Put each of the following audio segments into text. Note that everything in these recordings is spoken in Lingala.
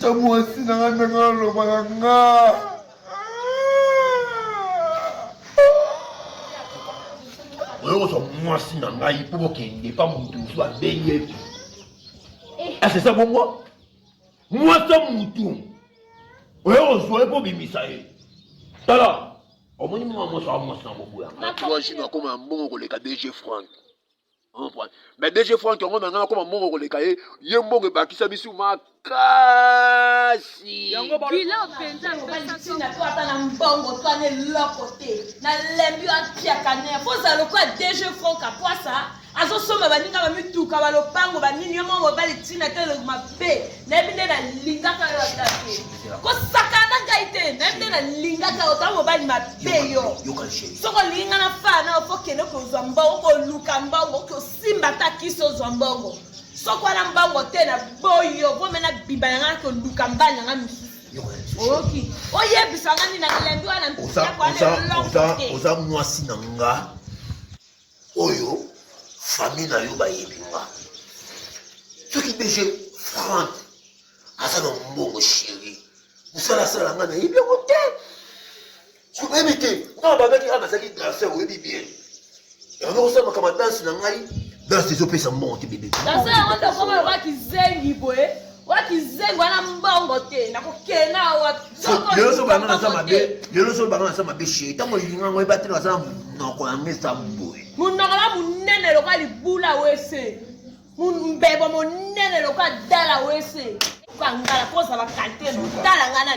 ta mwasi na nga ndenge alobaka nga oyokozwa mwasi na ngai mpo bokende pa moto mosusu abengi epi asesa eh. ah, bongo mwasi ya motu oyokozwa ye mpo obimisa ye tala omoni mwa mwasi wa mwasi na boboyaka akoma mbongo koleka dg frank mais dg frank yango na ngai nakoma mbongo koleka ye ye mbongo ebakisa bisu makasi bilaopenzaobaisina to ata na mbongo to ana eloko te nalembi atiaka ne kozala lokola dg frank apwasa azosomba baninga bamituka balopango banini yo moko mobali ntina te mabe nayebi nde nalingaka yo ata te kosakana na ngai te nayebi nde nalingaka yo otala mobali mabe yo soki olingi ngai nafana na ofo kende kozwa mbongo koluka mbongo oke osimba ata kisi ozwa mbongo soki wana mbongo te na boyo vome na bimba na ngai koluka mbali na ngai mosusu oyoki oyebisa ngai nini na milembi wana mpisa kwana oza mwasi na ngai oyo famille na yo bayebi nga soki dg frank aza na mbongo sheri mosala asala nga nayebi yango te soki oyebi te ntango babaki nga nazalaki danser oyebi bien yango nakosala makama danse na ngai danse ezopesa mbongo te bebe danse yango ndokomaloba kizengi boye Wa kizengo wana mbongo te nakokena wa lelo so banga naza mabe lelo so banga naza mabe sheri ntango olinga yango yeba te naza monoko ya mesa boye monoko na monene lokola libula wese mbebo monene lokola dala wese kangala kozala kalite motala ngai na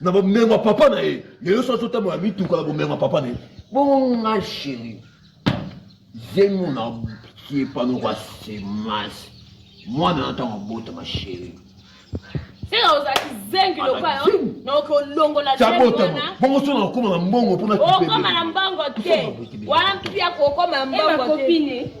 na bomengo ya papa na ye lelo so azotambola mituka na bomengo ya papa na ye bongo nga sheri zemo na tie panoko ya semase mwana na ntango abotama sheri seka ozalaki zengi lokola yo naoki olongola abotama bongo so nakokoma na mbongo mpona okoma na mbongo te wana mpia kokoma na mbongo te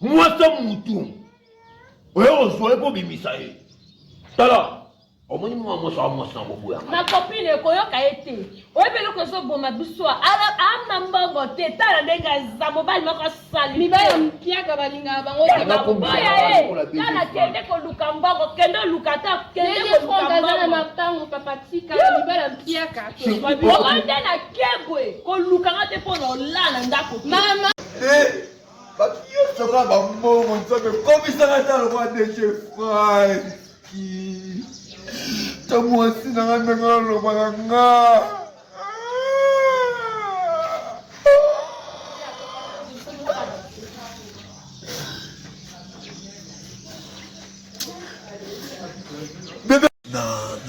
mwasa mutu oye ozwa ye kobimisa ye tala omoni mwa mwasi wa mwasi na boboya ma copine ekoyoka ye te oyebi eloko ezoboma biso ana mbongo te tala ndenge aza mobali moko asali mibali ya mpiaka balingaka bango te bakoboya ye tala kende koluka mbongo kende oluka ata kende koluka mbongo na mapango papa tika mibali ya mpiaka obanda na kebwe koluka nga te mpo na olala ndako mama Batu nyonso kaka ba mbongo nzambe komisaka ata lokola DG Franki. Ta mwasi na nga ndenge aloba na nga.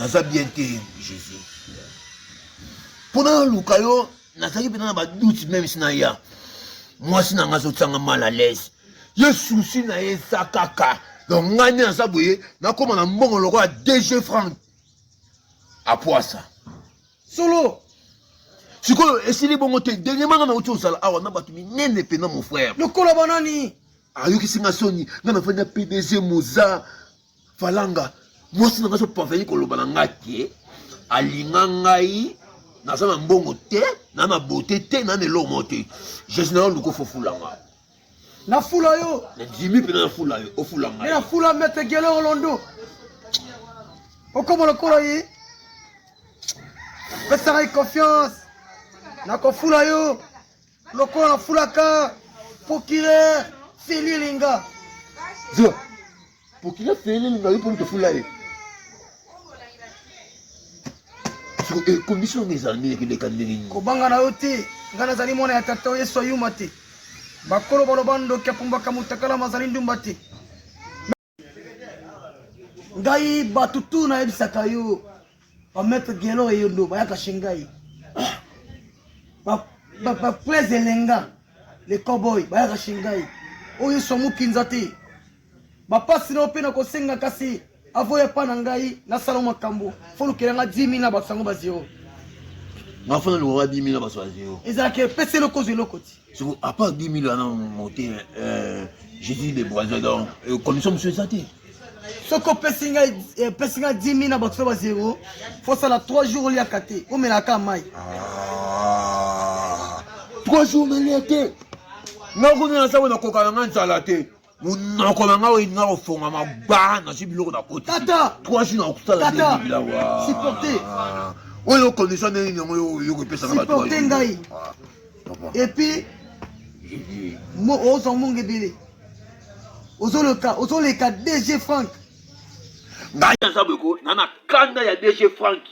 naza bien te jésus mpo naluka yo nazalaki mpenza na badoute meme si naya mwasi na ngai azotianga mal à l'aise ye susi na ye eza kaka donc ngai nde naza boye nakóma na mbongo lokola dg frank apwasa solo sikoyo esili bongo te dernièrement ngai nauti ozala awa na bato minene mpena mon frère lokola banani ayokisi ngai soni ngai nafandi na pdg moza falanga mwasi na ngai so parveni koloba na ngai ke alinga ngai naza na mbongo te na na bote te na na eloko moko te jesus na yo luka ofofula nga nafula yo nadimi mpena nafula yo ofula ngai nafula mete gelero londo okoma lokolo ye pesaka ye confiance nakofula yo Lokola fulaka procureur Feli Linga. Zo. Procureur Feli Linga yupo mtu fulani. So e condition des années que les candidats. Kobanga na yote. Ngana zali mwana ya tata Yesu ayuma te. Bakolo baloba ndoki apumbaka mutakala mazali ndumba te. ngai bato tu nayebisaka yo bamaitre gelo eyondo bayaka chez ngai baprese elenga le cowboy bayaka chez ngai oyo yesu amokinza te bapasi nao mpe nakosenga kasi avoya epa na ngai nasala makambo folukela nga 10 000 na bato yango ba zero nafana lokaka 10 000 na bato ya zero ezalaka epesi eloko ozwa eloko ti soko apa 10 000 wana mote euh, jésus de boison donc euh, commission mosusu eza te soki opesi ngai 10 000 na bato fe ba zero fosala 3 jours oliaka te omela kaka mai 3 jours nalia te nakomi na sango nakoka na ngai nzala te munoko na ngai olinga kofongama gba nazwi biloko na koti trois jours na kosala bilawa oyo condition ndenge nini yango yo kopesaka bato ngai epuis ozwa mongo ebele ozoleka dg frank ngai naza boyeko na na kanda ya dg frank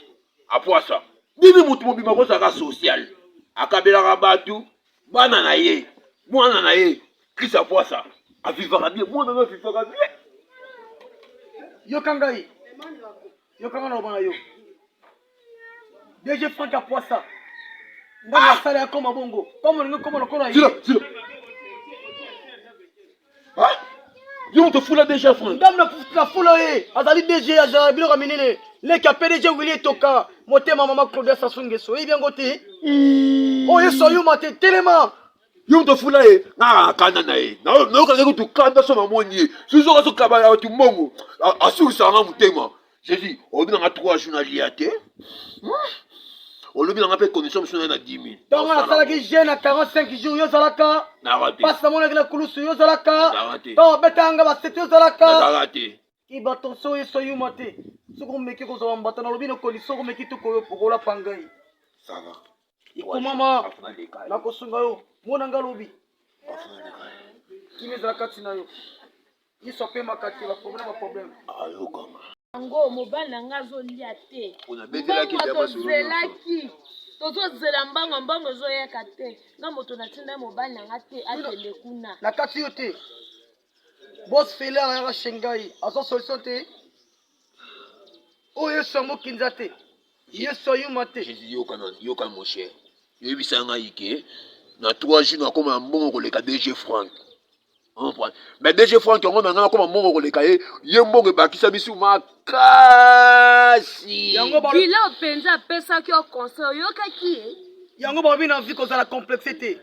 apwasa bimi moto mobima kozalaka social akabelaka bato bana na ye mwana na ye krista pwasa avivaka bie mwana na avivaka bie yoka ngai yoka ngai naloba na yo dg frank ya pwasa ngai nasala ya koma bongo koma olingi koma lokola ye Hein? Yo moto fula DG ya France. Ndam na fula ye. Azali DG ya Jean Biloko ya minene. Leki ya PDG Willy Etoka. Motema mama Claudia Sassou Nguesso. Oyebi yango te? Oyo Yesu ayuma te. Telema. Yo moto fula ye. Na kanda na ye. Na yo kanda kutu kanda so mamoni ye. Suzo kaso kaba ya watu mbongo. Asukisa nga motema. jesus olobi na nga trois jours nalia te hmm? olobi na nga mpe commission mosusu naye na 10 000 ntongo nasalaki jeune na 45 jours yo ozalaka mpasi namonaki na kulusu yo ozalaka ntongo obetaka nga basete yo ozalaka ibatonso oyo eso yuma te soki omeki kozwa bambata nalobi na koni soki omeki tokoyo pokola pangai ikomama nakosunga yo mona nga lobi kimi ezala kati na yo yesu apemaka te baproblème baproblème ayokama yango mobali na ngai azolia te tozelaki tozozela mbango mbango ezoyaka te nga moto natinda mobali na ngai te akende kuna na kati yo te Boss Fela ayaka chez ngai aza solution te oyo yesu yango kinza te yesu ayuma te jésus yokana yokana mon cher yoyebisa ngai ke na 3 jours nakoma na mbongo koleka dg frank mais dg frank yango na ngai nakoma mbongo koleka ye ye mbongo ebakisa bisu makasi bila mpenza apesaki yo conseil oyokaki ye yango balobi na vie kozala complexe te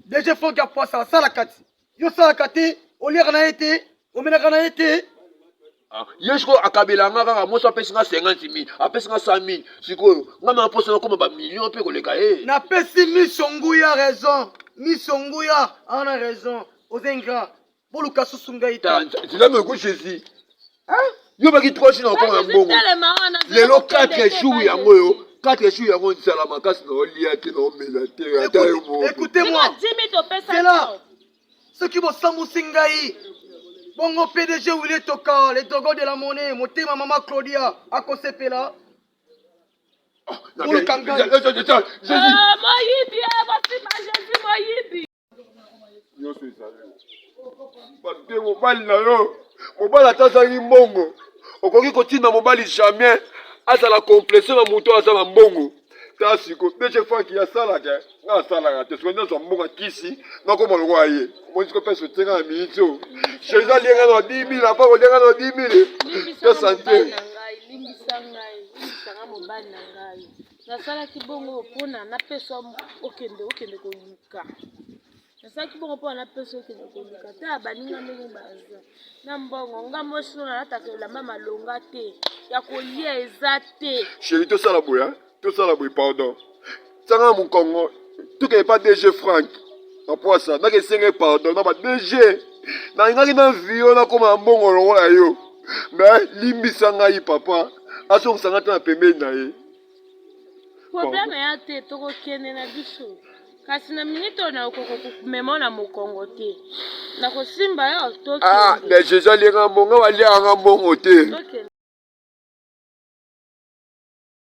dg frank ya poisa asala kati Yo salaka te, oliaka na ye te, omelaka na ye te. Ah, ye sikoyo akabela nga kaka mwasi apesi nga 50 mille apesi nga 100 mille sikoyo nga na mposa nakoma bamillion mpe koleka ye eh. napesi miso nguya raison miso nguya ana raison oza ingra boluka susu ngai te nzela meko jésus yo baki 3 jours na okoma na mbongo lelo 4 jours yango yo 4 jours yango nzala makasi na olia te na omela te ata yo moela soki bosambusi ngai bongo pdg wile toka le dogo de la monnaie motema mama claudia akosepela ah, oluka ngai nyonso ezali bate mobali na yo mobali ata azangi mbongo okoki kotinda mobali jamais azala komplese na moto aza na mbongo ta siko dece faki asalaka nga asalaka te soki nazwa mbongo kisi nakoma lokola ye omonisi ko pesa otenga na miniti oyo jesus alienga na 10 mille apa kolienga na 10 mille to sante nasalaki bongo mpona napesa okende okende koluka nasalaki bongo mpona napesa okende koluka ta baninga ndenge baza na mbongo nga mwasi no nalataka elamba malonga te ya kolia eza te sheri tosala boye tosala boye pardon sanga mokongo tokende pa dg frank na pwasa nakesenge pardon na ba dg nalingaki na vio nakoma na mbongo lokola yo me limbisa ngai papa azongisa ngai te na pembeni na ye problème eya te tokokende na biso kasi na minute oyo nakokoka komema na mokongo te nakosimba yo tokende ah mais jesus aliaka mbongo aliaka mbongo te tokende